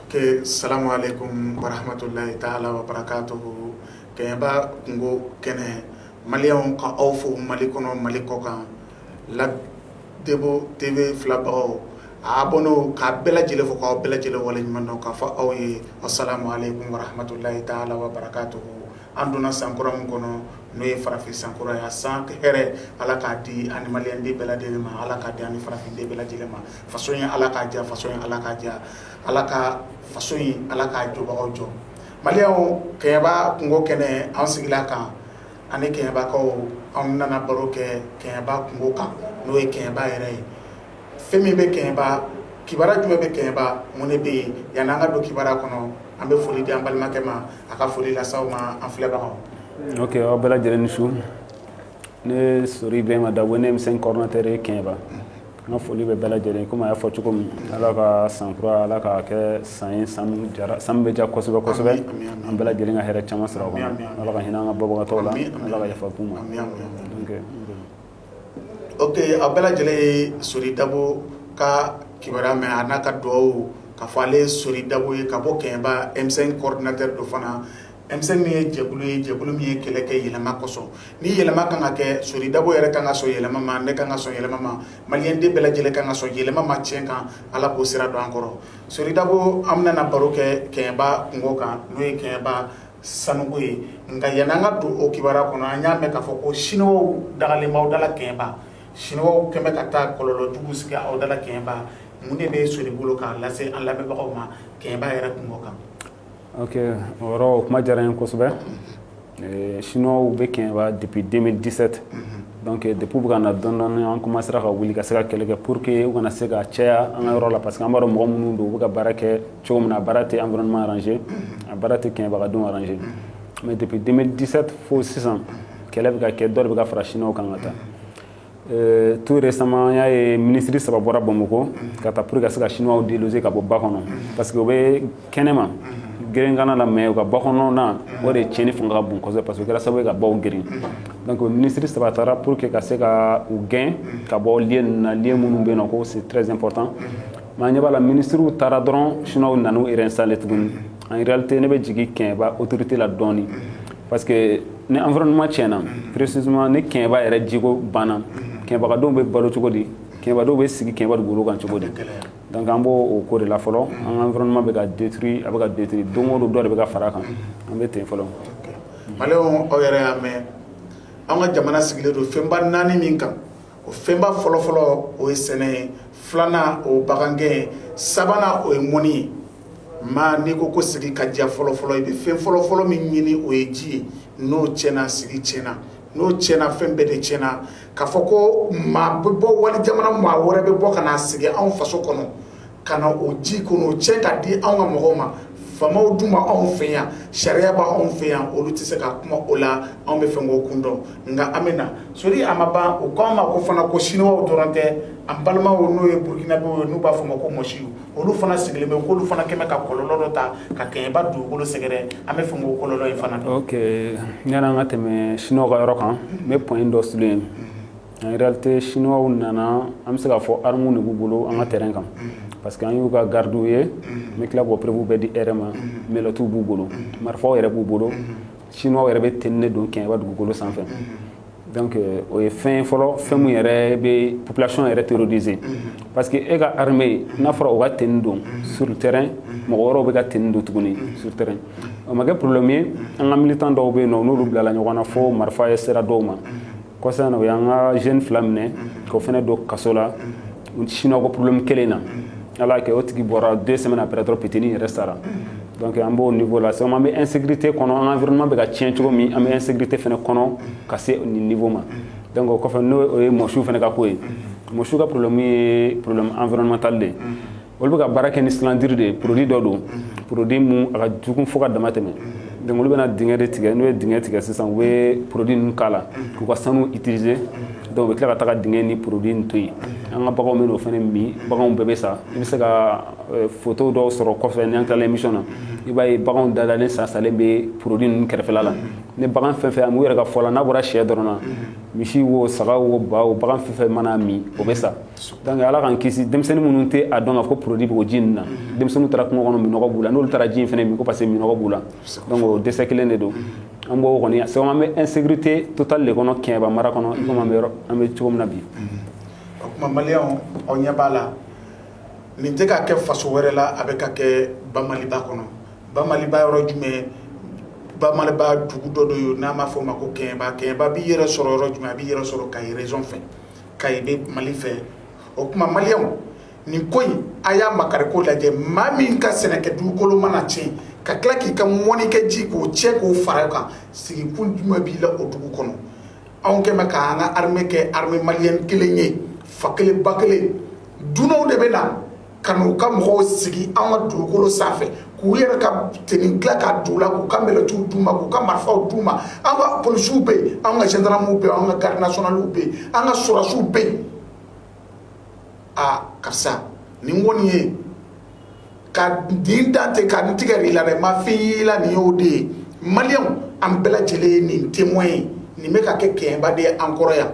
Ke salamu aleyikum wa rahmatulahi taala wa barakatuhu kɛɲɛba kunko kɛnɛ maliyɛnw ka aw fo Mali kɔnɔ Mali kɔkan la Debo TV filɛbagaw a abɔnɛw k'a bɛɛ lajɛlen fo k'aw bɛɛ lajɛlen waleɲuman dɔn k'a fɔ aw ye asalamu aleyikum wa rahmatulahi taala wa barakatuhu an donna san kura min kɔnɔ n'o ye farafin san kura ye a san hɛrɛ Ala k'a di an ni maliyɛnden bɛɛ lajɛlen ma Ala k'a di an ni farafin den bɛɛ lajɛlen ma. faso in Ala k'a diya faso in Ala k'a diya Ala ka faso in Ala k'a jɔbagaw jɔ maliyɛnw kɛɲɛba kunko kɛnɛ an sigila a kan ani kɛɲɛbakaw anw nana baro kɛ kɛɲɛba kunko kan n'o ye kɛɲɛba yɛrɛ ye fɛn min bɛ kɛɲɛba kibara jumɛn bɛ kɛɲɛba mun de bɛ yen yanni an ka don kibara kɔnɔ an bɛ foli di an balimakɛ ma a ka foli lase aw ma an filɛbagaw ok aw bɛɛ lajɛlen ni su ne sori bɛma dabo ne ye M5 coordinateur ye kɛɲɛba N ka foli bɛ bɛɛ lajɛlen kɔmi y'a fɔ cogo min ala ka san kura ala ka kɛ san san san bɛ diya kosɛbɛ kosɛbɛ an bɛɛ lajɛlen ka hɛrɛ caman sɔrɔ ala ka hinɛ an ka banbagatɔw la ala ka yafa k'u ma ok aw bɛɛ lajɛlen ye sori dabo ka kibara mɛn a n'a ka dugawu k'a fɔ ale ye sori dabo ye ka bɔ kɛɲɛba M5 coordinateur don fana M5 nin ye jɛkulu ye jɛkulu min ye kɛlɛ kɛ yɛlɛma kosɔn ni yɛlɛma kan ka kɛ sori dabo yɛrɛ kan ka sɔn yɛlɛma ma ne kan ka sɔn yɛlɛma ma maliyɛnden bɛɛ lajɛlen kan ka sɔn yɛlɛma ma cɛn kan ala k'o sira don an kɔrɔ sori dabo an bɛna baro kɛ kɛɲɛba kunko kan n'o ye kɛɲɛba sanuko ye nka yanni an ka don o kibara kɔnɔ an y'a mɛn k'a fɔ ko chinois dagalen b'aw dala kɛɲɛba chinois kɛ bɛ ka taa kɔlɔlɔ jugu sigi aw dala kɛɲɛba mun de bɛ sori bolo k'a lase an lamɛnbagaw ma kɛɲɛba yɛrɛ kunko kan ok o yɔrɔ o kuma diyara n ye kosɛbɛ eh, chinois bɛ kɛɲɛba depuis 2017 donc eh, depuis u bɛ ka na dɔɔni dɔɔni an commencera ka wuli ka se ka kɛlɛ kɛ pour que u kana se ka caya an ka yɔrɔ la parce que an b'a dɔn mɔgɔ minnu don u bɛ ka baara kɛ cogo min na a baara tɛ environnement arranger a baara tɛ kɛɲɛbaka denw arranger mais depuis 2017 fo sisan kɛlɛ bɛ ka kɛ dɔ de bɛ ka fara chinois kan ka taa Euh, tout récemment an y'a ye minisiri saba bɔra bamakɔ ka taa pour ka se ka chinois déloger ka bɔ ba kɔnɔ parce que u bɛ kɛnɛma gerenkanna la mais u ka ba kɔnɔna o de tiɲɛni fanga ka bon kosɛbɛ parce que kɛra sababu ye ka baw geren donc minisiri saba taara pour que ka se ka u gɛn ka bɔ lieu ninnu na lieu minnu bɛ yen nɔ ko c'est très important mais an ɲɛ b'a la minisiriw taara dɔrɔn chinois nana u réinstaller tuguni en réalité ne bɛ jigin kɛɲɛba autorité la dɔɔni parce que ni environnement tiɲɛna précisément ni Kɛɲɛba yɛrɛ jiko banna Kɛɲɛba ka denw bɛ balo cogo di Kɛɲɛbadenw bɛ sigi Kɛɲɛba dugukolo kan cogo di donc an b' o ko de la fɔlɔ an environnement bɛ ka détruit a bɛ ka détruit don o don dɔ de bɛ ka fara kan an bɛ ten fɔlɔ maliyɛnw aw yɛrɛ y'a mɛn an ka jamana sigilen don fɛnba naani min kan o fɛnba fɔlɔfɔlɔ o ye sɛnɛ ye filanan o ye bagangɛn ye sabanan o ye mɔnni ye maa n'i ko ko sigi ka diya fɔlɔfɔlɔ i bɛ fɛn fɔlɔfɔlɔ min ɲini o ye ji ye n'o tiɲɛna sigi tiɲɛna n'o tiɲɛna fɛn bɛɛ de tiɲɛna ka fɔ ko maa bɛ bɔ wali jamana maa wɛrɛ bɛ bɔ ka na sigi anw faso kɔnɔ ka na o ji kɔnɔ o tiɲɛ ka di anw ka mɔgɔw ma faamaw dun bɛ anw fɛ yan sariya bɛ anw fɛ yan olu tɛ se ka kuma o la an b'a fɛ k'o kun dɔn nka an bɛ na sori a ma ban o k'an ma ko fana ko siniwaw dɔrɔn tɛ an balimaw n'o ye burukinabew ye n'u b'a fɔ o ma ko mɔsiw olu fana sigilen bɛ k'olu fana kɛmɛ ka kɔlɔlɔ dɔ ta ka kɛɲɛba dugukolo sɛgɛrɛ an b'a fɛ k'o kɔlɔlɔ in fana ok yani an ka tɛmɛ siniwaw ka yɔrɔ kan n bɛ point dɔ souligner yen en réalité siniwaw nana an bɛ se k'a fɔ armes de b'u bolo an ka terrain kan parce que an y'u ka gardiw ye n bɛ tila k'o preuve bɛɛ di e yɛrɛ ma menottes b'u bolo marifaw yɛrɛ b'u bolo siniwaw yɛrɛ bɛ tenue de don kɛɲɛba dugukolo sanfɛ donc euh, o ye fɛn fɔlɔ fɛn min yɛrɛ bɛ population yɛrɛ terroriser mhm. parce que e ka armée n'a fɔra o ka tenue don mhm. sur le terrain mhm. mɔgɔ wɛrɛw bɛ ka tenue don tuguni sur terrain o ma kɛ problème ye an ka militant dɔw bɛ yen nɔ n'olu bilala ɲɔgɔn na fo marifa yɛrɛ sera dɔw ma kɔsa na o y'an ka jeune fila minɛ k'o fana don kaso la siniwa ko porobilɛmu kelen na ala kɛ o tigi bɔra deux semaines après dɔ pitinin yɛrɛ sara donc an b'o niveau la sisan an bɛ insécurité kɔnɔ an environnement bɛ ka tiɲɛ cogo min an bɛ insécurité fana kɔnɔ ka se nin niveau ma donc o kɔfɛ n'o ye mɔsiw fana ka ko ye mɔsiw ka porobilɛmu ye porobilɛmu environnemental de olu bɛ ka baara kɛ ni cyanure de ye porodi dɔ don porodi min a ka jugu fo ka dama tɛmɛ donc olu bɛna dingɛ de tigɛ n'u ye dingɛ tigɛ sisan u bɛ porodi ninnu k'a la k'u ka sanu utiliser donc u bɛ tila ka taga dingɛ ni porodi to yen an ka baganw bɛ o fana min baganw bɛɛ bɛ sa i bɛ se ka eh, foto dɔw sɔrɔ kɔfɛ n'an tilala emission na i b'a ye baganw dadalen sa salen bɛ porodi ninnu kɛrɛfɛla la ni bagan fɛn fɛn u yɛrɛ ka fɔ la n'a bɔra sɛ dɔrɔn na misi wo saga wo ba wo bagan fɛn fɛn mana min o bɛ sa donc ala k'an kisi denmisɛnnin minnu tɛ a dɔn ka fɔ porodi bɛ o ji ninnu na denmisɛnninw taara kungo kɔnɔ minɔgɔ b'u la n'olu taara ji in fana min ko parce que minɔgɔ b'u la donc o décès kelen de don an b'o kɔni a sabu an bɛ insécurité totale de kɔnɔ Kɛɲɛba mara kɔnɔ i komi an bɛ yɔrɔ an bɛ cogo min na bi, unhun, o tuma maliyɛnw aw ɲɛ b'a la nin tɛ ka kɛ faso wɛrɛ la a bɛ ka kɛ bamaliba kɔnɔ, bamaliba yɔrɔ jumɛn bamaliba dugu dɔ de ye n'an b'a fɔ o ma ko Kɛɲɛba, Kɛɲɛba b'i yɛrɛ sɔrɔ yɔrɔ jumɛn a b'i yɛrɛ sɔrɔ Kayi région fɛ Kayi bɛ Mali fɛ o tuma maliyɛnw nin ko in a y'a makari ko lajɛ maa min ka sɛnɛkɛ dugukolo mana tiɲɛ ka tila k'i ka mɔnikɛ ji k'o tiɲɛ k'o fara kan sigikun jumɛn b'i la o dugu kɔnɔ anw kɛn bɛ k'an ka armée kɛ armée malienne kelen ye fa kelen ba kelen dunanw de bɛ na ka n'u ka mɔgɔw sigi an ka dugukolo sanfɛ k'u yɛrɛ ka tenue tila k'a don u la k'u ka mɛlɛtiw d'u ma k'u ka marifaw d'u ma an ka polisiw bɛ yen an ka gendarmew bɛ yen an ka garde nationalew bɛ yen an ka sɔrɔdasiw bɛ yen aa karisa nin kɔni ye ka nin dantɛ ka nin tigɛ i la dɛ ma fɔ i ye i la nin y'o de ye maliyɛnw an bɛɛ lajɛlen ye nin témoin ye nin bɛ ka kɛ kɛɲɛba de ye an kɔrɔ yan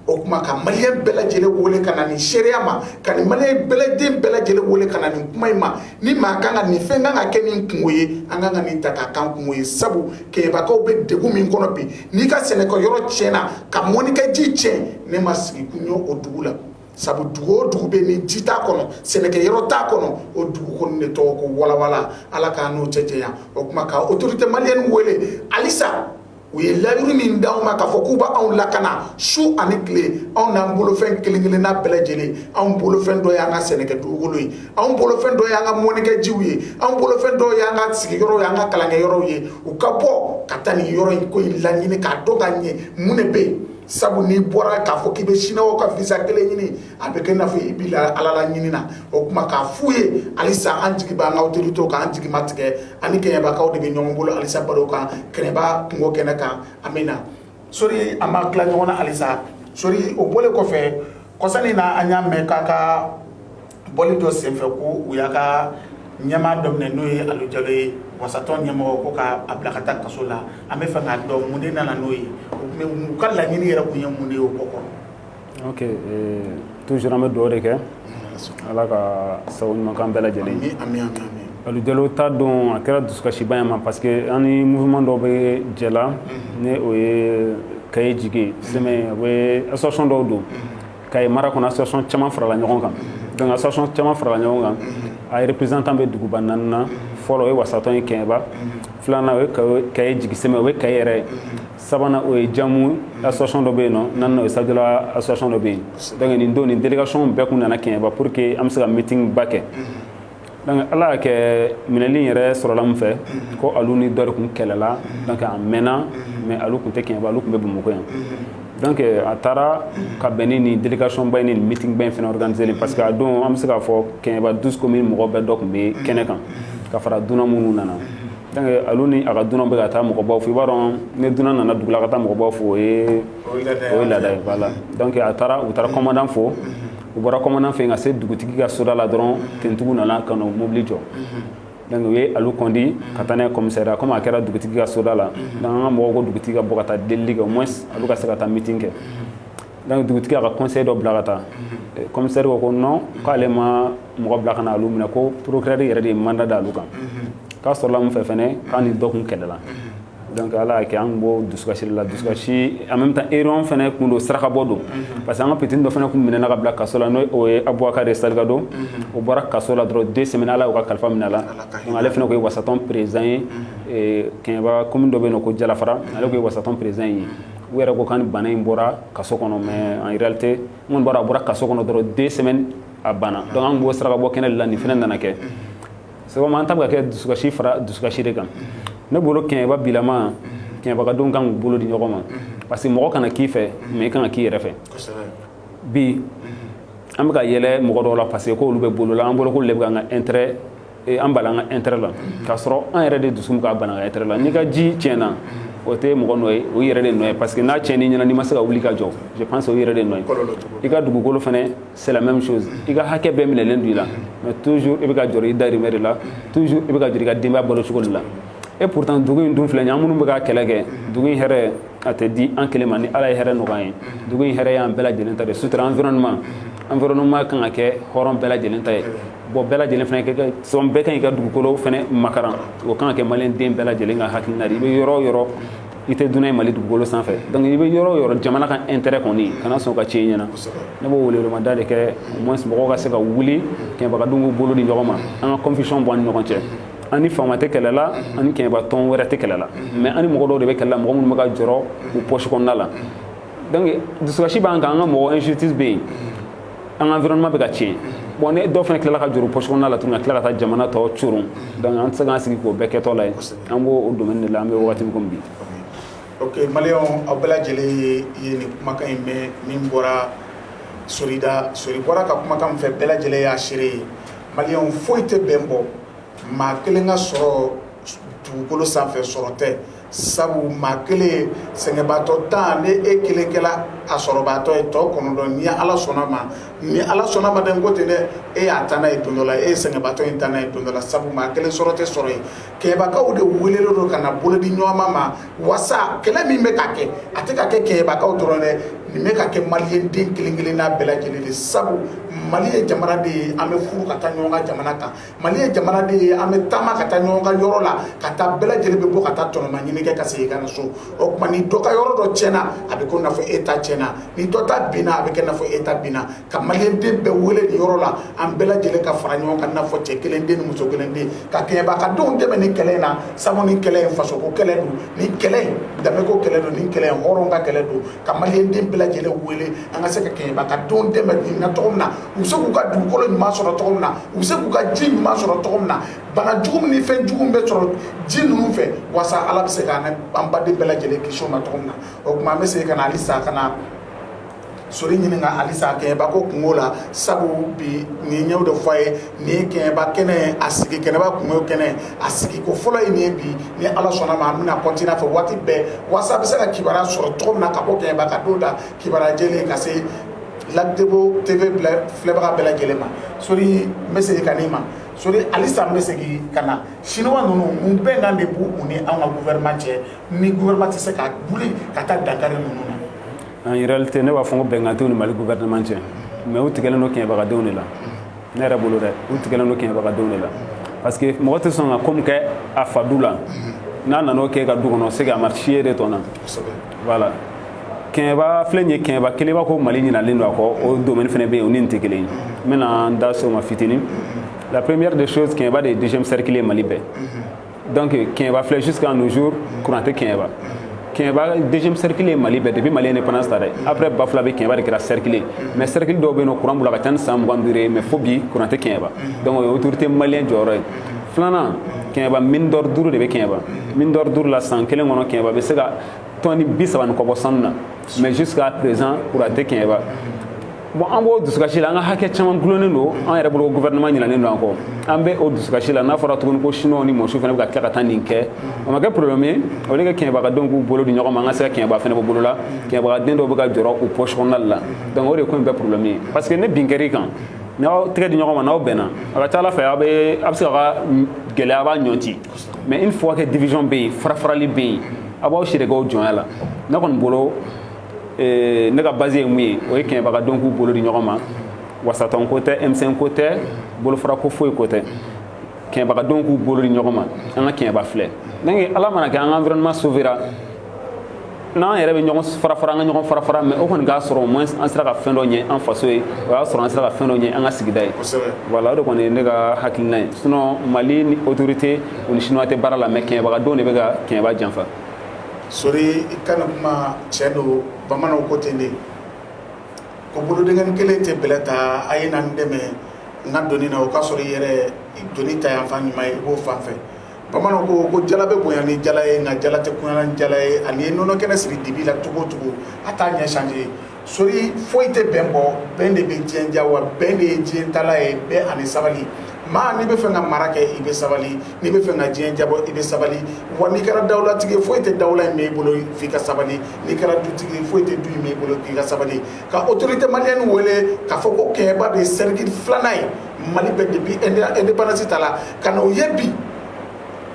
o tuma ka maliyɛn bɛɛ lajɛlen wele ka na nin seereya ma ka nin maliyɛn bɛɛ lajɛlen wele ka na nin kuma in ma ni maa kan ka nin fɛn kan ka kɛ nin kunko ye an kan ka nin ta k'a k'an kunko ye sabu kɛɲɛbakaw bɛ degun min kɔnɔ bi n'i ka sɛnɛkɛ yɔrɔ tiɲɛna ka mɔnikɛ ji tiɲɛ ne ma sigi kun ye o dugu la sabu dugu o dugu bɛ ni ji t'a kɔnɔ sɛnɛkɛ yɔrɔ t'a kɔnɔ o dugu kɔni de tɔgɔ ko walawala ala k'an n'o cɛ janya o tuma ka autorité malienne wele halisa u ye layiru min di anw ma k'a fɔ k'u b' anw lakana su ani tile anw n'an bolofɛn kelen-kelenna bɛɛ lajɛlen anw bolofɛn dɔ y'an ka sɛnɛkɛ dugukolo ye anw bolofɛn dɔ y'an ka mɔnikɛjiw ye anw bolofɛn dɔw y'an ka sigiyɔrɔw y'an ka kalankɛ yɔrɔw ye u ka bɔ ka taa nin yɔrɔ in ko in laɲini k'a dɔn ka ɲɛ mun de bɛ yen sabu n'i bɔra k'a fɔ k'i bɛ siniwaw ka visa kelen ɲini a bɛ kɛ i n'a fɔ i b'i la ala la ɲini na o tuma k'a f'u ye halisa an jigi b'an ka autorité kan an jigi ma tigɛ ani kɛɲɛbakaw de bɛ ɲɔgɔn bolo halisa baro kan kɛɲɛba kunko kɛnɛ kan an bɛ na sori an b'a tila ɲɔgɔn na halisa sori o bɔlen kɔfɛ kɔsa in na an y'a mɛn k'a ka bɔli dɔ senfɛ ko u y'a ka ɲɛmaa dɔ minɛ n'o ye Alu Jalo ye wasatɔn ɲɛmɔgɔ ko k'a bila ka taa kaso la an b'a fɛ k'a dɔn mun de nana n'o ye u ka laɲini yɛrɛ tun ye mun de ye o ko kɔrɔ ok ee toujours an bɛ dugawu de kɛ Ala ka sago ɲuman k'an bɛɛ lajɛlen ye ami ami ami Alu Jalo ta don a kɛra dusukasiba ye an ma parce que an ni mouvement dɔw bɛ jɛ la ni o ye kaye jigi sɛmɛ ye o bɛ association dɔw don kaye mara kɔnɔ association caman farala ɲɔgɔn kan donc association caman farala ɲɔgɔn kan a représentant bɛ duguba naani na fɔlɔ o ye wasatɔn ye kɛɲɛba filanan o ye kaye jigi sɛmɛ o ye kaye yɛrɛ ye sabanan o ye jamu association dɔ bɛ yen naaninan o ye sajola association dɔ bɛ yen donc nin don nin délégation bɛɛ tun nana kɛɲɛba pour que an bɛ se ka meeting ba kɛ donc ala y'a kɛ minɛli yɛrɛ sɔrɔla min fɛ ko alu ni dɔ de tun kɛlɛla donc a mɛnna mais alu tun tɛ kɛɲɛba alu tun bɛ bamakɔ yan donc a taara ka bɛn ni nin délégation ba ni nin meeting ba in fana organiselen parce que a don an bɛ se k'a fɔ kɛɲɛba douze communes mɔgɔ bɛɛ dɔ tun bɛ kɛnɛ kan ka fara dunan minnu nana donc alu ni a ka dunan bɛ ka taa mɔgɔbaw fo i b'a dɔn ni dunan nana dugu la ka taa mɔgɔbaw fo o ye o ye laada ye voilà donc a taara u taara kɔmandan fo u bɔra commandant fɛ ka se dugutigi ka soda la dɔrɔn tenitigiw nana ka n'o mobili jɔ donc u ye alu kɔndi ka taa n'a ye commissariat comme a kɛra dugutigi ka soda la donc an ka mɔgɔw ko dugutigi ka bɔ ka taa delili kɛ au moins alu ka se ka taa meeting kɛ donc dugutigi y'a ka conseil dɔ bila ka taa commissaire ko ko non k'ale ma mɔgɔ bila ka na olu minɛ ko procureur yɛrɛ de ye mandat da olu kan k'a sɔrɔla mun fɛ fɛnɛ k'a ni dɔ kun kɛlɛla donc ala y'a kɛ an b'o dusukasi la dusukasi en même temps réunion fɛnɛ kun don sarakabɔ don parce que an ka petit dɔ fɛnɛ kun minɛna ka bila kaso la n'o ye abubakari salikado o bɔra kaso la dɔrɔn deux semaines ala y'o ka kalifa minɛ a la ale fɛnɛ kun ye wasatɔn président ye kɛɲɛba commune dɔ bɛ yen ko jalafara ale kun ye wasatɔn président ye u yɛrɛ ko k'a ni bana in bɔra kaso kɔnɔ mais en réalité mun bɔra a bɔra kaso kɔnɔ dɔrɔn deux semaines a banna donc an b'o sarakabɔ kɛnɛ la nin fɛnɛ nana kɛ sabu an ta bɛ ka kɛ dusukasi fara dusukasi de kan ne bolo kɛɲɛba bilama kɛɲɛbakadenw kan k'u bolo di ɲɔgɔn ma parce que mɔgɔ kana k'i fɛ mais i kan ka k'i yɛrɛ fɛ bi an bɛ ka yɛlɛ mɔgɔ dɔw la parce que k'olu bɛ bolo la an bolo k'olu de bɛ k'an ka intérêt an bala an ka intérêt la k'a sɔrɔ an yɛrɛ de dusu bɛ k'a bana an ka intérêt la n'i ka ji tiɲɛna o tɛ mɔgɔ nɔ ye o yɛrɛ de nɔ ye parce que n'a tiɲɛn'i ɲɛna n'i ma se ka wuli ka jɔ je pense o yɛrɛ de nɔ ye i ka dugukolo fana c'est la même chose i ka hakɛ bɛɛ minɛlen don i la mais toujours i bɛ ka jɔrɔ i dahirimɛ de la toujours i bɛ ka jɔrɔ i ka denbaya balo cogo de la et pourtant dugu in dun filɛ nin ye an minnu bɛ ka kɛlɛ kɛ dugu in hɛrɛ a tɛ di an kelen ma ni ala ye hɛrɛ nɔgɔya ye dugu in hɛrɛ y'an bɛɛ lajɛlen ta de sutura environnement environnement kan ka kɛ hɔrɔn bɛɛ lajɛlen ta ye bon bɛɛ lajɛlen fana kɛ sɔn bɛɛ kan i ka dugukolo fana makaran o kan ka kɛ maliyɛn den bɛɛ lajɛlen ka hakilina de i bɛ yɔrɔ o yɔrɔ i tɛ dunan ye mali dugukolo sanfɛ donc i bɛ yɔrɔ o yɔrɔ jamana ka intérêt kɔni kana sɔn ka tiɲɛ i ɲɛna ne b'o welewelemada de kɛ au moins mɔgɔw ka se ka wuli kɛɲɛbakadenw k'u bolo di ɲɔgɔn ma an ka confusion bɔ an ni ɲɔgɔn cɛ an ni faama tɛ kɛlɛ la an ni kɛɲɛba tɔn wɛrɛ tɛ kɛlɛ la mais an ni mɔgɔ dɔw de bɛ kɛlɛ la mɔgɔ minnu bɛ ka jɔrɔ u poche kɔnɔna la donc dusukasi b'an kan an ka mɔgɔ injustice bɛ yen an ka environnement bɛ ka tiɲɛ bon ni dɔw fana tilala ka jɔrɔ u poche kɔnɔna la tuguni ka tila ka taa jamana tɔ coron donc an tɛ se k'an sigi k'o bɛɛ kɛtɔla ye an b'o o domaine de la an bɛ wagati min komi bi ok maliyɛnw aw bɛɛ lajɛlen ye ye nin kumakan in mɛn min bɔra sori da sori bɔra ka kumakan min fɔ bɛɛ lajɛlen y'a seere ye maliyɛnw foyi tɛ bɛn bɔ maa kelen ka sɔrɔ dugukolo sanfɛ sɔrɔ tɛ Sabu maa kelen sɛgɛnbaatɔ tan ni e kelen kɛla a sɔrɔbaatɔ ye tɔ kɔnɔntɔn ni ala sɔnna ma ni ala sɔnna ma dɛ n ko ten dɛ e y'a ta n'a ye don dɔ la e ye sɛgɛnbaatɔ in ta n'a ye don dɔ la sabu maa kelen sɔrɔ tɛ sɔrɔ ye kɛɲɛbakaw de welelen don ka na bolo di ɲɔgɔn ma wasa kɛlɛ min bɛ ka kɛ a tɛ ka kɛ kɛɲɛbakaw dɔrɔn dɛ nin bɛ ka kɛ maliyɛn den kelen-kelenna bɛɛ lajɛlen de sabu mali ye jamana de ye an bɛ furu ka taa ɲɔgɔn ka jamana kan mali ye jamana de ye an bɛ taama ka taa ɲɔgɔn ka yɔrɔ la ka taa bɛɛ lajɛlen bɛ bɔ ka taa tɔnɔma ɲini kɛ ka segin ka na so o tuma ni dɔ ka yɔrɔ dɔ tiɲɛna a bɛ ko n'a fɔ e ta tiɲɛna ni dɔ ta binna a bɛ kɛ n'a fɔ e ta binna ka maliyɛnden bɛɛ wele nin yɔrɔ la an bɛɛ lajɛlen ka fara ɲɔgɔn kan n'a fɔ cɛ kelen den ni muso kelen den ka kɛɲɛbakadenw dɛmɛ nin kɛlɛ in na sabu nin kɛlɛ in fasoko kɛlɛ don nin kɛlɛ in danbeko kɛlɛ don nin kɛlɛ in hɔrɔn ka kɛlɛ don ka maliyɛnden bɛɛ lajɛlen wele an ka se ka kɛɲɛbakadenw dɛmɛ nin na cogo min na u bɛ se k'u ka dugukolo ɲuman sɔrɔ cogo min na u bɛ se k'u ka ji ɲuman sɔrɔ cogo min na bana jugu min ni fɛn jugu min bɛ sɔrɔ ji ninnu fɛ walasa ala bɛ se ka an baden bɛɛ lajɛlen kisi o ma cogo min na o tuma an bɛ segin ka na halisa ka na sori ɲininka halisa kɛɲɛba ko kunko la sabu bi nin ɲɛw de fɔ a ye nin ye kɛɲɛba kɛnɛ a sigi kɛɲɛba kunko kɛnɛ a sigi ko fɔlɔ ye nin ye bi ni ala sɔnna ma an bɛna continuer a fɛ waati bɛɛ walasa a bɛ se ka kibaruya sɔrɔ cogo min na ka bɔ kɛɲɛbakadenw da kibaruya jɛlen ka se lagdebo TV filɛbaga bɛɛ lajɛlen ma sori n bɛ segin ka n'i ma sori halisa n bɛ segin ka na chinois ninnu mun bɛnkan de b'u u ni an ka gouvernement cɛ ni gouvernement tɛ se ka wuli ka taa dankari ninnu na en réalité ne b'a fɔ ko bɛnkan t'u ni mali gouvernement cɛ mais u tigɛlen don kɛɲɛbagadenw de la ne yɛrɛ bolo dɛ u tigɛlen don kɛɲɛbagadenw de la parce que mɔgɔ tɛ sɔn ka ko min kɛ a fa du la n'a nan'o kɛ ka du kɔnɔ c'est que a marisi ye de tɔnna voilà kɛɲɛba filɛ nin ye kɛɲɛba kelen b'a ko mali ɲinalen don a kɔ o domaine fana bɛ yen o ni nin tɛ kelen ye n bɛna n da se o ma fitinin la première des choses kɛɲɛba de ye deuxième cercle ye mali bɛɛ donc kɛɲɛba filɛ jusqu'à nos jours courant tɛ kɛɲɛba kɛɲɛba deuxième cercle ye mali bɛɛ depuis mali indépendance ta dɛ après bafulabɛ kɛɲɛba de kɛra cercle mais cercle dɔw bɛ yen nɔ courant b'u la ka ca ni san mugan duuru ye mais fo bi courant tɛ kɛɲɛba donc o ye autorité malien jɔyɔrɔ ye filanan kɛɲɛba mine d'or duuru de bɛ kɛɲɛba mine d'or duuru la san kelen kɔnɔ kɛɲɛba bɛ se ka tɔni bi saba ni kɔ bɔ sanu na mais jusqu'à présent courant tɛ kɛɲɛba bon an b'o dusukasi la an ka hakɛ caman gulonnen don an yɛrɛ bolo gouvernement ɲinalen don an kɔ an bɛ o dusukasi la n'a fɔra tuguni ko chinois ni mɔsiw fana bɛ ka tila ka taa nin kɛ o ma kɛ problème ye o de ka kɛɲɛbagadenw k'u bolo di ɲɔgɔn ma an ka se ka kɛɲɛba fana bɔ bolo la kɛɲɛbagaden dɔw bɛ ka jɔrɔ u poche kɔnɔna la donc o de ko in bɛɛ problème ye parce que ni bin kɛr'i kan n'aw tɛgɛ di ɲɔgɔn ma n'aw bɛnna a ka ca ala fɛ aw bɛ a bɛ se ka ka gɛlɛya b'a ɲɔnti mais une fois que division bɛ yen farafarali bɛ yen a b'aw siri k'aw jɔnya la ne kɔni bolo ee, ne ka base ye mun ye o ye kɛɲɛbagadenw k'u bolo di ɲɔgɔn ma wasatɔn ko tɛ M5 ko tɛ bolofara ko foyi ko tɛ kɛɲɛbagadenw k'u bolo di ɲɔgɔn ma an ka kɛɲɛba filɛ donc ala mana kɛ an ka environnement sauvera n'an yɛrɛ bɛ ɲɔgɔn farafara an ka ɲɔgɔn farafara mais o kɔni k'a sɔrɔ au moins an sera ka fɛn dɔ ɲɛ an faso ye o y'a sɔrɔ an sera ka fɛn dɔ ɲɛ an ka sigida ye voilà o de kɔni ye ne ka hakilina ye sinon mali ni autorité u ni chinois tɛ baara la mais kɛɲɛbagadenw de bɛ ka kɛɲɛba janfa sori i ka nin kuma tiɲɛ don bamananw ko ten de ko bolodennin kelen tɛ bɛlɛ ta a ye na n dɛmɛ n ka doni na o k'a sɔrɔ i yɛrɛ doni ta yan fan ɲuman ye i b'o fan fɛ bamananw ko ko jala bɛ bonya ni jala ye nka jala tɛ kunaya ni jala ye ani ye nɔnɔ kɛnɛ siri dibi la cogo o cogo a t'a ɲɛ changer sori foyi tɛ bɛn bɔ bɛn de bɛ diɲɛ diya wa bɛn de ye diɲɛ taala ye bɛn ani sabali maa n'i bɛ fɛ ka mara kɛ i bɛ sabali n'i bɛ fɛ ka diɲɛ jabɔ i bɛ sabali wa n'i kɛra dawulatigi foyi tɛ dawula in mɛɛn i bolo f'i ka sabali n'i kɛra dutigi foyi tɛ du in mɛɛn i bolo f'i ka sabali ka autorité malienne wele k'a fɔ ko kɛɲɛba de ye cercle filanan ye mali bɛ depuis indépendance ta la ka na o ye bi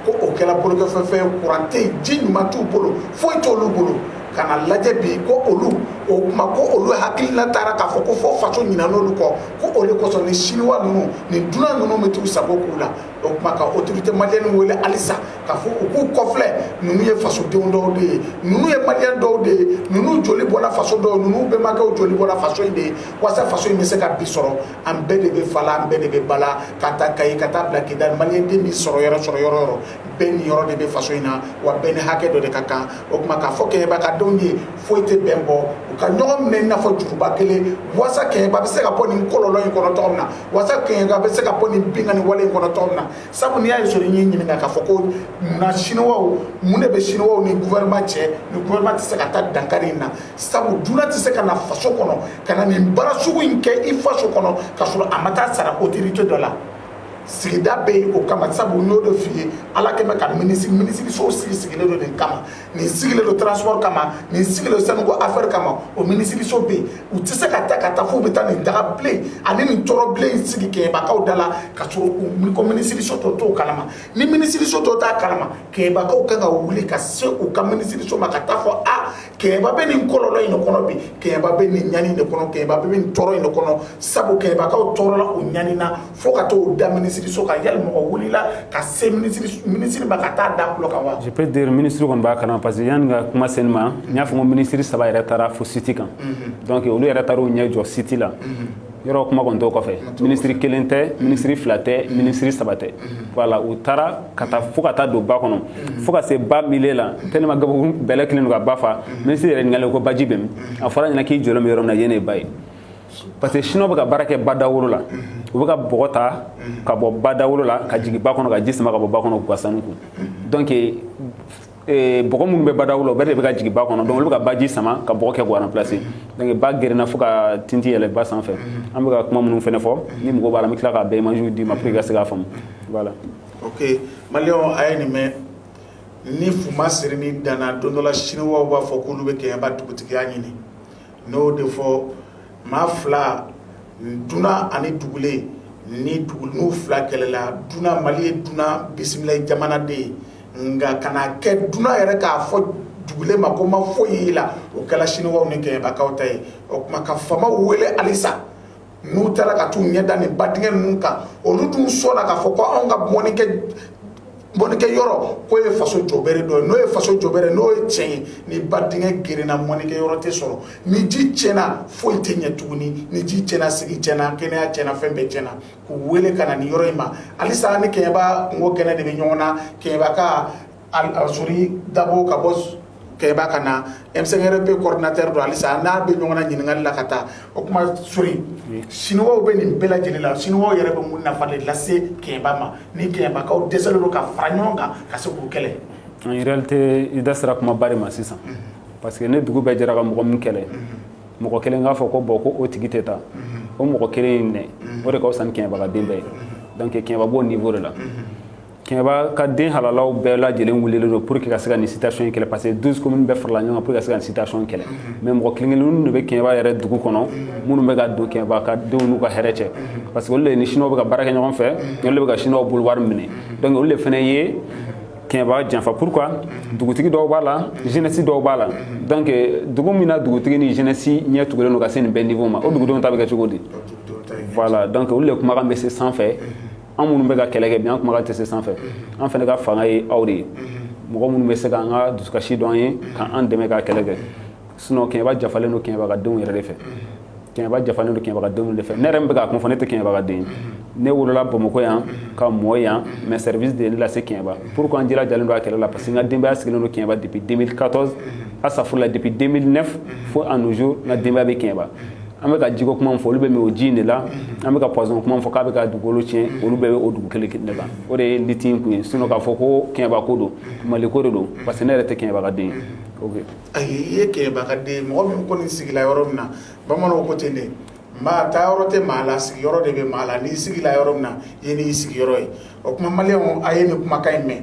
ko o kɛra bolokɔfɛfɛn ye kuran tɛ yen ji ɲuman t'u bolo foyi t' olu bolo ka na lajɛ bi ko olu o tuma ko olu hakilina taara k'a fɔ ko fo faso ɲinɛna olu kɔ ko o de kosɔn ni siniwa ninnu ni dunan ninnu bɛ t'u sago k'u la o tuma ka autorité malienne wele halisa k'a fɔ u k'u kɔfilɛ ninnu ye fasodenw dɔw de ye ninnu ye maliyɛn dɔw de ye ninnu joli bɔra faso dɔw ninnu bɛnbakɛw joli bɔra faso in de ye walasa faso in bɛ se ka bi sɔrɔ an bɛɛ de bɛ fa la an bɛɛ de bɛ ba la k'a ta kayi ka taa bila kidali maliyɛn den bɛ sɔrɔ yɔrɔ sɔrɔ yɔrɔ o yɔrɔ bɛɛ niyɔrɔ de bɛ faso in na wa bɛɛ ni hakɛ dɔ de ka kan o tuma k'a fɔ kɛɲɛba ka denw ye foyi tɛ bɛn bɔ u ka ɲɔgɔn minɛ i n'a fɔ juruba kelen walasa kɛɲɛba bɛ se ka bɔ nin kɔlɔlɔ in kɔnɔ cogo min na walasa kɛɲɛba bɛ se ka bɔ nin binkanni wale in kɔnɔ cogo min na sabu n'i y'a ye sori ye n ɲininka k'a fɔ ko munna siniwa mun de bɛ siniwaw ni gouvernement cɛ ni gouvernement tɛ se ka taa dankari in na sabu dunan tɛ se ka na faso kɔnɔ ka na nin baara sugu in kɛ i faso kɔnɔ k'a sɔrɔ a ma taa sara autorité dɔ la sigida bɛ yen o kama sabu n y'o de f'i ye ala kɛmɛ ka minisiri minisiriso sigi sigilen don nin kama nin sigilen don transport kama nin sigilen don sanuko affaire kama o minisiriso bɛ yen u tɛ se ka ta ka taa f'u bɛ taa nin daga bilen ani nin tɔɔrɔ bilen in sigi kɛɲɛbakaw da la k'a sɔrɔ u ko minisiriso tɔ t'o kalama ni minisiriso tɔ t'a kalama kɛɲɛbakaw kan ka wuli ka se u ka minisiriso ma ka taa fɔ a kɛɲɛba bɛ nin kɔlɔlɔ in de kɔnɔ bi kɛɲɛba bɛ nin ɲani de kɔnɔ kɛɲɛba bɛ nin tɔɔrɔ in de kɔnɔ sabu kɛɲɛbakaw tɔɔrɔla u ɲanina fo u ka t'o da minisiriso kan yali mɔgɔ wulila ka se minisiri ma ka taa da kulo kan wa je peux dire minisiri kɔni b'a kalama parce que yanni ka kuma se nin ma n y'a fɔ ko minisiri saba yɛrɛ taara fo siti kan donc olu yɛrɛ taara u ɲɛ jɔ siti la yɔrɔ kuma kɔni t'o kɔfɛ minisiri kelen tɛ minisiri fila tɛ minisiri saba tɛ voilà u taara ka taa fo ka taa don ba kɔnɔ fo ka se ba milieu la tellement gabugu bɛlɛ kɛlen don ka ba fa minisiri yɛrɛ ɲininkalen ko baji bɛ min a fɔra a ɲɛna k'i jɔlen bɛ yɔrɔ min na yen de ye ba ye parce que siniwaw bɛ ka baara kɛ badawolo la u bɛ ka bɔgɔ ta ka bɔ badawolo la ka jigin ba kɔnɔ ka ji sama ka bɔ ba kɔnɔ k'u ka sanu ko donc Eh, bɔgɔ minnu bɛ badaw la o bɛɛ de bɛ ka jigin ba kɔnɔ donc olu bɛ ka baji sama ka bɔgɔ kɛ k'o remplacer donc ba gerenna fo ka tinti yɛlɛ ba sanfɛ an bɛ ka kuma minnu fɛnɛ fɔ ni mɔgɔ b'a la n bɛ tila k'a bɛɛ images d'i ma pour que i ka se k'a faamu voilà ok maliyɛnw a ye nin mɛn ni fu ma siri nin dan na don dɔ la siniwaw b'a fɔ k'olu bɛ kɛɲɛba dugutigiya ɲini n'o de fɔ maa fila dunan ani dugulen ni dugu n'u fila kɛlɛla dunan mali ye dunan bisimila jamana de ye nka kana kɛ dunan yɛrɛ k'a fɔ dugulen ma ko ma foyi y'i la o kɛla siniwaw ni kɛɲɛbakaw ta ye o tuma ka faamaw wele halisa n'u taara ka taa u ɲɛ da nin ba dingɛ ninnu kan olu dun sɔnna k'a fɔ ko anw ka mɔnikɛ yɔrɔ k'o ye faso jɔbere dɔ ye n'o ye faso jɔbere n'o ye tiɲɛ ye ni ba dingɛ gerenna mɔnikɛ yɔrɔ tɛ sɔrɔ ni ji tiɲɛna foyi tɛ ɲɛ tuguni ni ji tiɲɛna sigi tiɲɛna kɛnɛya tiɲɛna fɛn bɛɛ tiɲɛna k'u wele ka na nin yɔrɔ in ma halisa an ni Kɛɲɛba kunko kɛnɛ de bɛ ɲɔgɔn na Kɛɲɛba ka Sori Dabo ka bɔ Kɛɲɛba ka na MCRP coordinateur don halisa n'a bɛ ɲɔgɔn na ɲininkali la ka taa o tuma Sori Siniwaw bɛ nin bɛɛ lajɛlen la Siniwaw yɛrɛ bɛ mun nafa de lase Kɛɲɛba ma ni Kɛɲɛbakaw dɛsɛlen don ka fara ɲɔgɔn kan ka se k'u kɛlɛ en réalité i da sera kumaba de ma sisan parce que ni dugu bɛɛ jɛra ka mɔgɔ min kɛlɛ mɔgɔ kelen k'a fɔ ko bon ko o tigi tɛ taa o mɔgɔ kelen in minɛ o de ka fisa ni kɛɲɛba ka den bɛɛ ye donc kɛɲɛba b'o niveau de la kɛɲɛba ka den halalaw bɛɛ lajɛlen wulilen don pour que ka se ka nin situation in kɛlɛ parce que 12 communes bɛɛ farala ɲɔgɔn kan pour que ka se ka nin situation kɛlɛ mais mɔgɔ kelen kelenninw de bɛ kɛɲɛba yɛrɛ dugu kɔnɔ minnu bɛ ka don kɛɲɛba ka denw n'u ka hɛrɛ cɛ parce que olu de ni siniwaw bɛ ka baara kɛ ɲɔgɔn fɛ olu de bɛ ka siniwaw bolo wari minɛ donc olu de fana ye kɛɲɛba janfa pourquoi dugutigi dɔw b'a la jeunesse dɔw b'a la donc dugu min na dugutigi ni jeunesse ɲɛ tugulen don ka se nin bɛɛ niveau ma o dugudenw ta bɛ kɛ cogo di voilà donc olu de kumakan bɛ se sanfɛ an minnu bɛ ka kɛlɛ kɛ bi an kumakan tɛ se sanfɛ an fana ka fanga ye aw de ye mɔgɔ minnu bɛ se ka an ka dusukasi dɔn an ye ka an dɛmɛ ka kɛlɛ kɛ sinon kɛɲɛba janfalen don kɛɲɛba ka denw yɛrɛ de fɛ kɛɲɛba janfalen don kɛɲɛba ka denw de fɛ ne yɛrɛ min bɛ k'a kuma fɔ ne tɛ kɛɲɛba ka den ye ne wolola bamakɔ yan ka mɔ yan mais service de ye ne lase kɛɲɛba pourquoi an jilajalen don a kɛlɛ la parce que n ka denbaya sigilen don kɛɲɛba depuis 2014 asafurula depuis 2009 fo à nos jours n ka denbaya bɛ kɛɲɛba an bɛ ka jiko kuma min fɔ olu bɛ min o ji in de la an bɛ ka poison kuma min fɔ k'a bɛ ka dugukolo tiɲɛ olu bɛɛ bɛ o dugu kelen de kan o de ye lutte in kun ye sinon k'a fɔ ko kɛɲɛba ko don mali ko de don parce que ne yɛrɛ tɛ kɛɲɛba ka den ye ok Ayi i ye kɛɲɛba ka den mɔgɔ min kɔni sigila yɔrɔ min na bamananw ko ten de maa ta yɔrɔ tɛ maa la sigiyɔrɔ de bɛ maa la n'i sigila yɔrɔ min na yen y'i sigiyɔrɔ ye o tuma maliyɛnw a ye nin kumakan in mɛn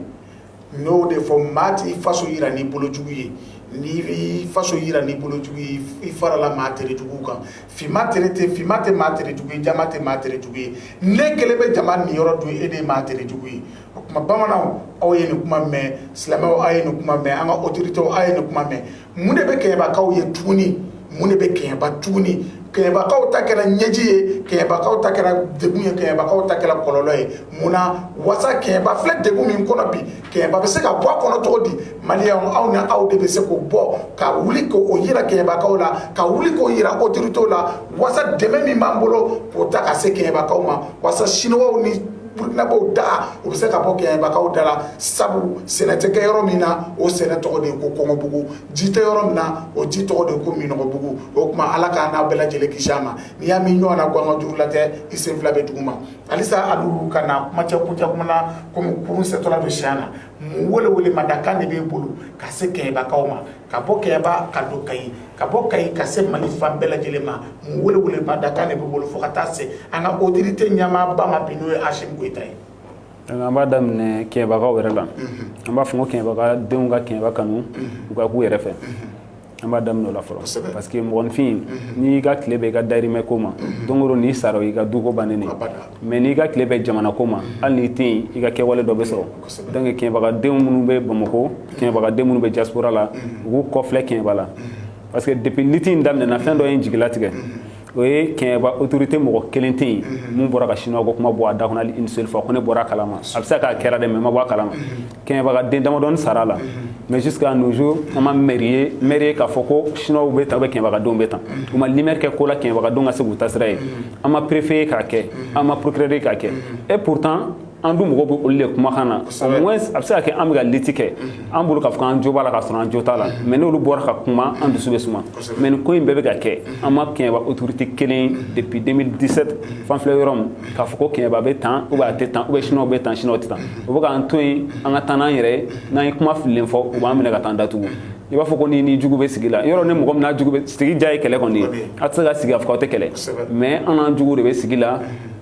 n'o de fɔ maa tɛ i faso yira n'i bolojugu ye n'i b'i faso yira n'i bolojugu ye i farala maa terejuguw kan finman tɛ maa terejugu ye jɛman tɛ maa terejugu ye ne kelen bɛ jama niyɔrɔ dun e de ye maa terejugu ye o tuma bamananw aw ye nin kuma mɛn silamɛw aw ye nin kuma mɛn an ka autorités aw ye nin kuma mɛn mun de bɛ kɛɲɛbakaw ye tuguni mun de bɛ kɛɲɛba tuguni kɛɲɛbakaw ta kɛra ɲɛji ye kɛɲɛbakaw ta kɛra degun ye kɛɲɛbakaw ta kɛra kɔlɔlɔ ye mun na wasa kɛɲɛba filɛ degun min kɔnɔ bi kɛɲɛba bɛ se ka bɔ a kɔnɔ cogo di maliyɛnw aw ni aw de bɛ se k'o bɔ ka wuli k'o yira kɛɲɛbakaw la ka wuli k'o yira autorités la wasa dɛmɛ min b'an bolo k'o ta ka se kɛɲɛbakaw ma wasa siniwaw ni burukinabɛw da o bɛ se ka bɔ kɛɲɛbakaw da la sabu sɛnɛ tɛ kɛ yɔrɔ min na o sɛnɛ tɔgɔ de ye ko kɔngɔbugu ji tɛ yɔrɔ min na o ji tɔgɔ de ye ko minnɔgɔbugu o tuma ala k'an n'a bɛɛ lajɛlen kisi a ma n'i y'a min ɲɔgɔn na ko an ka juru la tɛ i sen fila bɛ dugu ma halisa a b'u ka na kuma cɛ kuncɛ kuma na komi kurun sɛtɔla don siɲɛ na mun welewele ma da kan de b'e bolo ka se kɛɲɛbakaw ma ka bɔ kɛɲɛba ka don kayi ka bɔ kayi ka se mali fan bɛɛ lajɛlen ma mun welewele ma da kan de b'e bolo fo ka taa se an ka autorité ɲɛmaaba ma bi n'o ye asimi goyita ye an b'a daminɛ kɛɲɛbakaw yɛrɛ la an b'a fɔ ko kɛɲɛbaka denw ka kɛɲɛba kanu u ka k'u yɛrɛ fɛ an b'a daminɛ o la fɔlɔ parce que mɔgɔninfin n'i ka tile bɛ i ka dayirimɛ ko ma don o don n'i sara i ka duko bannen mais n'i ka tile bɛ jamana ko ma hali n'i tɛ i ka kɛwale dɔ bɛ sɔrɔ donc kɛɲɛbakadenw minnu bɛ bamakɔ kɛɲɛbakadenw minnu bɛ diaspora la u k'u kɔfilɛ kɛɲɛba la parce que depuis liti in daminɛna fɛn dɔ ye n jigila tigɛ o ye kɛɲɛba autorité mɔgɔ kelen tɛ yen min bɔra ka chinois ko kuma bɔ a da kɔnɔ une seule fois ko ne bɔra a kalama a bɛ se k'a kɛra dɛ mais n ma bɔ a kalama kɛɲɛbakaden damadɔni sara la mais jusqu'à nos jours an ma maire ye maire ye k'a fɔ ko chinois bɛ tan ou bien kɛɲɛbakadenw bɛ tan u ma lumière kɛ ko la kɛɲɛbakadenw ka se k'u ta sira ye an ma préfet ye k'a kɛ an ma procureur ye k'a kɛ et pourtant an dun mɔgɔw bɛ olu de kumakan na au moins a bɛ se ka kɛ an bɛ ka liti kɛ an bolo k'a fɔ k'an jo b'a la k'a sɔrɔ an jo t'a la mais n'olu bɔra ka kuma an dusu bɛ suma mais nin ko in bɛɛ bɛ ka kɛ an ma kɛɲɛba autorité kelen depuis 2017 f'an filɛ yɔrɔ min k'a fɔ ko kɛɲɛba bɛ tan ou bien a tɛ tan ou bien chinois bɛ tan chinois tɛ tan u bɛ k'an to yen an ka taa n'an yɛrɛ ye n'an ye kuma fililen fɔ u b'an minɛ ka taa an datugu i b'a fɔ ko n'i n'i jugu bɛ sigi la yɔrɔ ni mɔgɔ min n'a jugu sigi diya ye kɛlɛ kɔni ye a tɛ se ka sigi a fɔ k'aw tɛ kɛlɛ mais an n'an jugu de bɛ sigi la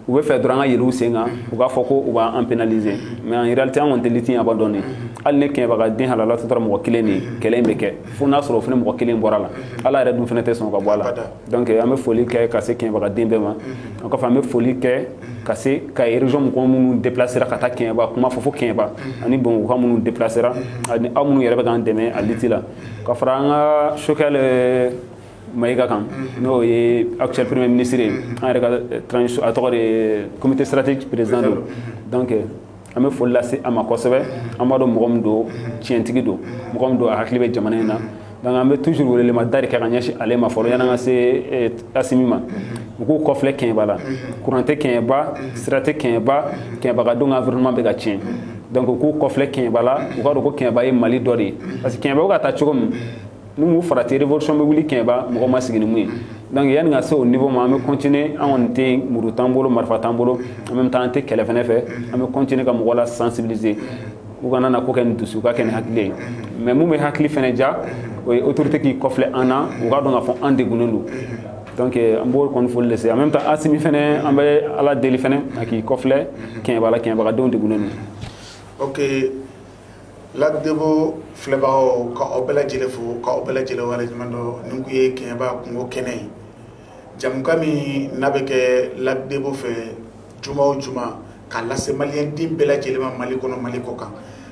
u b'a fɛ dɔrɔn an ka yɛlɛn u sen kan u b'a fɔ ko u b'an pénaliser mais en réalité an kɔni tɛ liti in abandonner hali ni kɛɲɛbakaden halala tɔ tora mɔgɔ kelen de ye kɛlɛ in bɛ kɛ fo n'a sɔrɔ o fana mɔgɔ kelen bɔra a la ala yɛrɛ dun fana tɛ sɔn ka bɔ a la donc an bɛ foli kɛ ka se kɛɲɛbakaden bɛɛ ma o kɔfɛ an bɛ foli kɛ ka se Kayes région mɔgɔ minnu déplacera ka taa kɛɲɛba kuma fɔ fo kɛɲɛba ani bamakɔka minnu déplacera ani aw minnu yɛrɛ bɛ k'an dɛmɛ a liti la ka fara an ka Choguel Mayiga kan n'o ye actuel premier ministre ye an yɛrɛ ka transition a tɔgɔ de ye comité stratégique président don donc an bɛ foli lase a ma kosɛbɛ an b'a dɔn mɔgɔ min don tiɲɛtigi don mɔgɔ min don a hakili bɛ jamana in na donc an bɛ toujours wele ma dari kɛ ka ɲɛsin ale ma fɔlɔ yan'an ka se eh, asimi ma u k'u kɔfilɛ kɛɲɛba la kuran tɛ kɛɲɛba sira tɛ kɛɲɛba kɛɲɛbakadenw ka environnement bɛ ka tiɲɛ donc u k'u kɔfilɛ kɛɲɛba la u k'a dɔn ko kɛɲɛba ye mali dɔ de ye parce que kɛɲɛba bɛ ka taa cogo min N'u ma farati révolution bɛ wuli kɛɲɛba mɔgɔ ma sigi ni min ye donc yanni ka se o niveau ma an bɛ continuer anw tɛ muru t'an bolo marifa t'an bolo en même temps an tɛ kɛlɛ fana fɛ an bɛ continuer ka mɔgɔ la sensibiliser u kana na ko kɛ ni dusu u k'a kɛ ni hakili ye mais mun bɛ hakili fana ja o ye autorité k'i kɔfilɛ an na u k'a dɔn k'a fɔ an degunnen don donc an b'o kɔni foli lase en même temps asimi fana an bɛ ala deli fana a k'i kɔfilɛ kɛɲɛba la kɛɲɛbakadenw de lac debo filɛbagaw ka aw bɛɛ lajɛlen fo ka aw bɛɛ lajɛlen waleɲumandɔn nin kun ye kɛɲɛba kungo kɛnɛ ye jamukan min n'a bɛ kɛ lac debo fɛ juma o juma k'a lase maliyɛnden bɛɛ lajɛlen ma Mali kɔnɔ Mali kɔ kan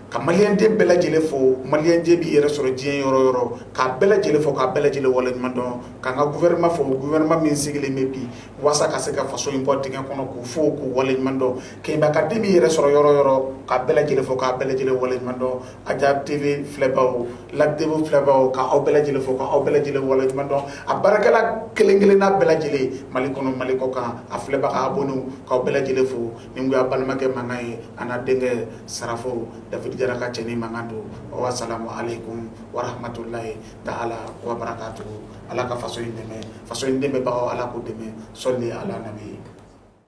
ka maliyɛnden bɛɛ lajɛlen fo maliyɛnden b'i yɛrɛ sɔrɔ diɲɛ yɔrɔ o yɔrɔ k'a bɛɛ lajɛlen fo k'a bɛɛ lajɛlen waleɲumandɔn k'an ka gouvernement fo gouvernement min sigilen bɛ bi waasa ka se ka faso in bɔ dingɛ kɔnɔ k'u fo k'u waleɲumandɔn kɛɲɛbakaden b'i yɛrɛ sɔrɔ yɔrɔ o yɔrɔ k'a bɛɛ lajɛlen fo k'a bɛɛ lajɛlen waleɲumandɔn ajab tv filɛbaw lac debo filɛbaw ka aw bɛɛ lajɛlen fo k'aw bɛɛ lajɛlen waleɲumandɔn a baarakɛla kelen kelenna bɛɛ lajɛlen mali kɔnɔ mali kɔ kan a filɛbaga abonnés k'aw bɛɛ lajɛlen fo nin kun y'a balimakɛ mankan ye a n'a denkɛ sarafo dafidi jara ka cɛni mankan don wassalamu alaikum wa rahmatulahi ta'ala wa barakatuhu ala ka faso in dɛmɛ faso in dɛmɛbagaw ala k'o dɛmɛ sɔli ala nabi